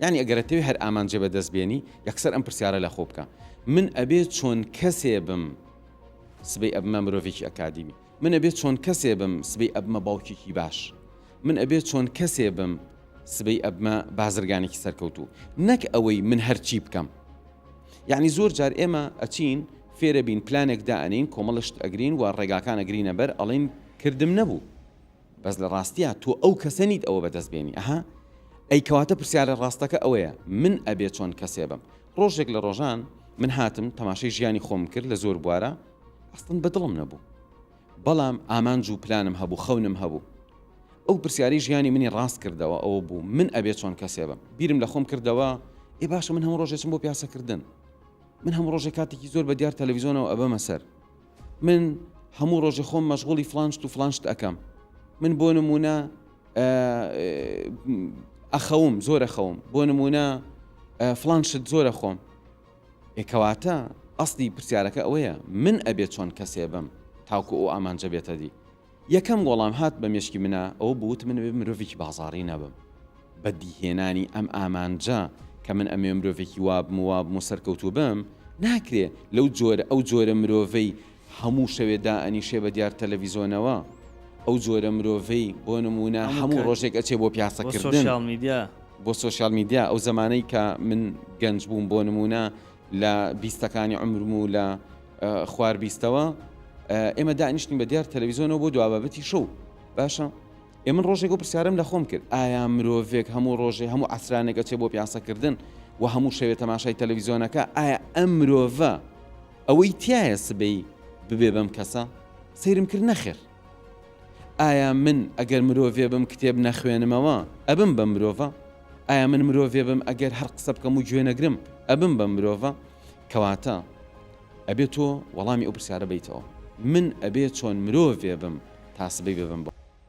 یانی ئەگەر ئەتەوێ هەر ئامانجێ بە دەست بێنی یەکسەر ئەم پرسیارە لە خۆ بکە من ئەبێ چۆن کەسێ بم سبەی ئەبمە مرۆڤێکی ئەکادیمی من ئەبێ چۆن کەسێ بم سبەی ئەبمە باوکێکی باش من ئەبێ چۆن کەسێ بم سبەی ئەبمە بازرگانێکی سەرکەوتوو نەک ئەوەی من هەرچی بکەم یعنی زۆر جار ئێمە ئەچین فێرە بین پلانێک دائەنین کۆمەڵشت ئەگرین و ڕێگاکان ئەگرینە بەر ئەڵین کردم نەبوو بەس لە ڕاستیا تۆ ئەو کەسە نیت ئەوە بەدەست بێنی ئەها ئەی کەواتە پرسیارە ڕاستەکە ئەوەیە من ئەبێ چۆن کەسێ بم ڕۆژێک لە ڕۆژان من هاتم تەماشای ژیانی خۆم کرد لە زۆر بوارە ئەستن بەدڵم نەبوو بەڵام ئامانج و پلانم هەبوو خەونم هەبوو ئەو پرسیاری ژیانی منی ڕاست کردەوە ئەوە بوو من ئەبێ چۆن کەسێ بم بیرم لە خۆم کردەوە ئێ باشە من هەموو ڕۆژێچم بۆ پیاسەکردن من هەموو ڕۆژێک کاتێکی زۆر بە دیار تەلەویزیۆنەوە ئەبەمە سەر من هەموو ڕۆژێ خۆم مەشغوڵی فلان شت و فلان شت ئەەکەم من بۆ نمونە ئەخەوم زۆرە خەوم بۆ نمونە فلان شت زۆرە خۆم ئێکەواتە ئەستی پرسیارەکە ئەوەیە من ئەبێت چۆن کەسێ بم تاکو ئەو ئامانجە بێتە دی یەکەم وەڵام هات بە مێشکی منا ئەوە بوو وتم من ئەبێ مرۆڤێکی بازاڕی نەبم بە دیهێنانی ئەم ئامانجە کە من ئەمەوێ مرۆڤێکی وا بم و وا بم و سەرکەوتوو بم ناکرێ لەو جۆرە ئەو جۆرە مرۆڤەی هەموو شەوێ دائەنیشێ بە دیار تەلەڤیزۆنەوە ئەو جۆرە مرۆڤەی بۆ نموونە هەموو هەموو کات. ڕۆژێک ئەچێ بۆ پیاسەکردن سۆشیال میدیا بۆ سۆشیال میدیا ئەو زەمانەی کە من گەنج بووم بۆ نموونە لە بیستەکانی عومرم و لە خوار بیستەوە ئێمە دانیشتین بە دیار تەلەویزیۆنەوە بۆ دوابەتی شەو باشە ئێمن ڕۆژێک و پرسیارم لە خۆم کرد ئایا مرۆڤێک هەموو ڕۆژێ هەموو ئەسرانێکە چێ بۆ پیاسەکردن و هەموو شەوێت تەماشای تەلەویزیۆنەکە ئایا ئەم مرۆڤە ئەوەی تایە سبەی ببێ بەم کەسە سەیرم کرد نەخێر ئایا من ئەگەر مرۆڤێ بم کتێب نەخوێنمەوە ئەبم بە مرۆڤە؟ ئایا من مرۆڤێ بم ئەگەر هەر قسە بکەم و گوێ نەگرم ئەبم بە مرۆڤە؟ کەواتە ئەبێت تۆ وەڵامی ئەو پرسیارە بیتەوە من ئەبێ چۆن مرۆڤێ بم تا سبەی ببم بە